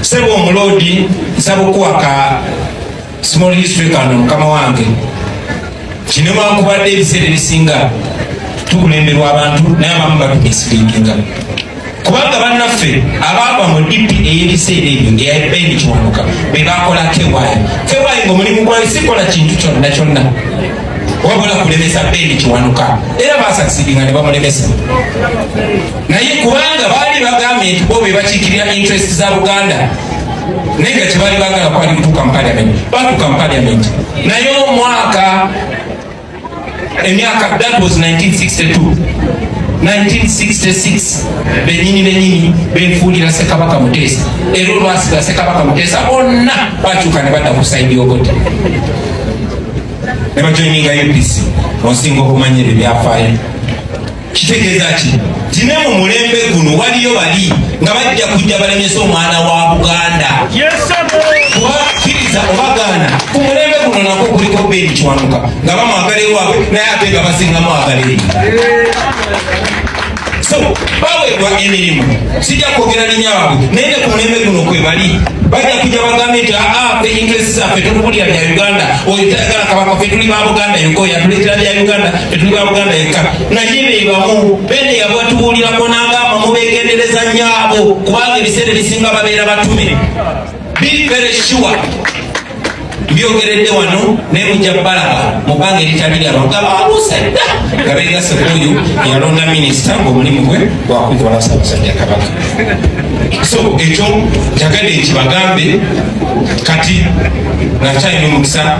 sebo omuloodi nsaba okuwaka small history kano mukama wange kino wankubadde ebiseera ebisinga tukulemberwa abantu naye abamu batumisilinginga kubanga bannaffe abaava mu dipi ey'ebiseera ebyo eyabendi kiwanuka be bakola kewayi kewayi nga omulimu gwayo sikola kintu kyonna kyonna wabula kulemesa bendi kiwanuka era basasiringa ne bamulemesa naye kubanga baali bagambye nti bo be bakiikirira interest za buganda naye nga kyebali bagala kwali kutuuka mu paliament batuuka mu paliament naye omwaka emyaka that was 1962 1966 benyini benyini benfuulira sekabaka muteesa era olwasiga sekabaka muteesa bonna bakyuka ne badda ku saidi ogote ne bajoininga upc onsinga okumanya ebyo byafaayo kitegeeza ki nti ne mu mulembe guno waliyo bali nga bajja kujja balemesa omwana wa buganda kubakkiriza obagaana ku mulembe guno nako kuliko beeni kiwanuka nga bamwagala ewaabwe naye ate nga basinga mwagala eri so baweebwa emirimu sijja kwogera linya waabwe naye ne ku mulembe guno kwe bali bajja kujja bagambe nti aa ah, fe ingilesi zaffe tokubulira bya uganda oyo tayagala kabaka fe tuli ba buganda yokoya tuleetera bya uganda tuli ba buganda yekka naye bebamu bene yabatubuulirako n'agamba mubegendereza nnyo abo kubanga ebiseera ebisinga babeera batume bibere sure byogeredde wano naye mujja balaba mu bbanga eritali lyabo nga baluusadda nga begase kuoyo yalonda minisita ngaomulimu gwe gwakukola sabasajja kabaka so ekyo njagadde nkibagambe kati nakyalina omukisa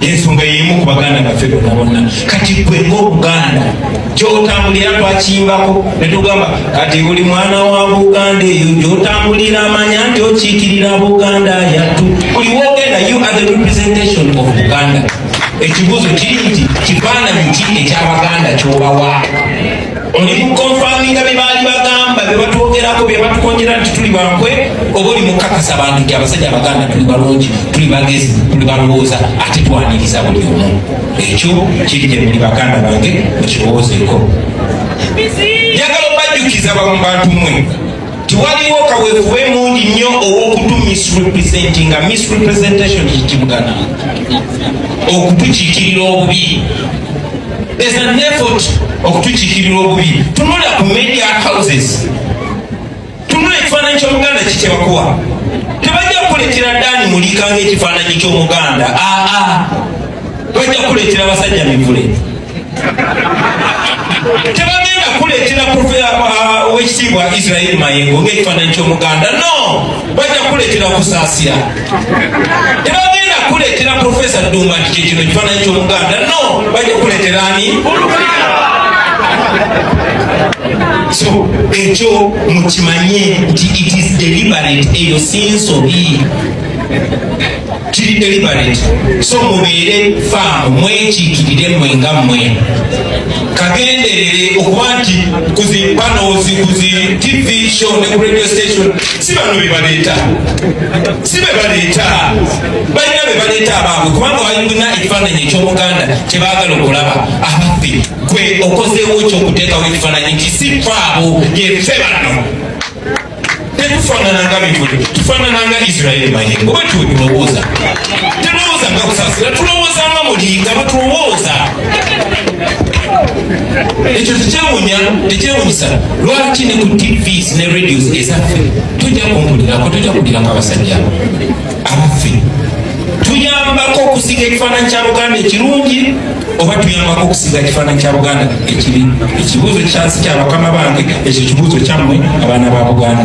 ensonga yemu ku baganda baffe bonna bonna kati gwe ngaobuganda gyotambulira twakimbako netugamba kati buli mwana wa buganda eyo gyotambulira amanya nti okiikirira buganda yattu buli wogenda you are the representation of buganda ekibuuzo kiri nti kifaananyi ki ekyabaganda kyobawa oli mukonfaminga bye baali bagamba bye batwogerako bye batukonjera nti tuli bankwe oba oli mukakasa bantu nti abasajja abaganda tuli balungi tuli bagezi tuli balowooza ate twaniriza buli omu ekyo kiri gye muli baganda bange mukirowoozeeko njagala obajjukiza bamu bantu mwe nti waliwo kaweefube emungi nnyo ow'okutu misrepresenting nga misrepresentation kikibugana okutukiikirira obubi there's an effort okutukiikirira obubi tunula ku media houses tunula ekifaananyi ky'omuganda kikyebakuwa tebajja kukuletera ddaani muliikanga ekifaananyi ky'omuganda aa ah, ah. bajja kukuletera basajja mivule tebagenda kuleetera uh, owekitiibwa israeli mayengo ngaekifaananyi kyomuganda no bajja kuleetera okusaasira tebagenda kuleetera profesa ddumba nti kyekino ekifaananyi kyomuganda no bajja kuleetera ani so ekyo mukimanye nti it is deliberate eyo sinsobi kiri deliberate so mubeere faamu mwekiikirire mwe nga mwe kagenderere okuba nti kuzi panozi kuzi tv show ne ku radio station si bano bebaleeta si bebaleeta balina bebaleeta abaabwe kubanga balina ekifaananyi eky'omuganda kyebaagala okulaba abaffe kwe okozeewo ekyokuteekawo ekifaananyi nti si faabo yefe bano tetufanananga bivude tufanananga isirairi mayengo bwetuwe tulowooza tulowooza nga kusasira tulowooza nga mulinga bwetulowooza ekyo tekyewunya tekyewunyisa lwaki ne ku tvs ne radios ezaffe tujja kumpulirako tujja kulirako abasajja abaffe tuyambako okusiga ekifaananyi kya buganda ekirungi oba tuyambako okusiga ekifaananyi kya buganda ekibi ekibuuzo kyansi kya bakama bange ekyo kibuuzo kyammwe abaana ba buganda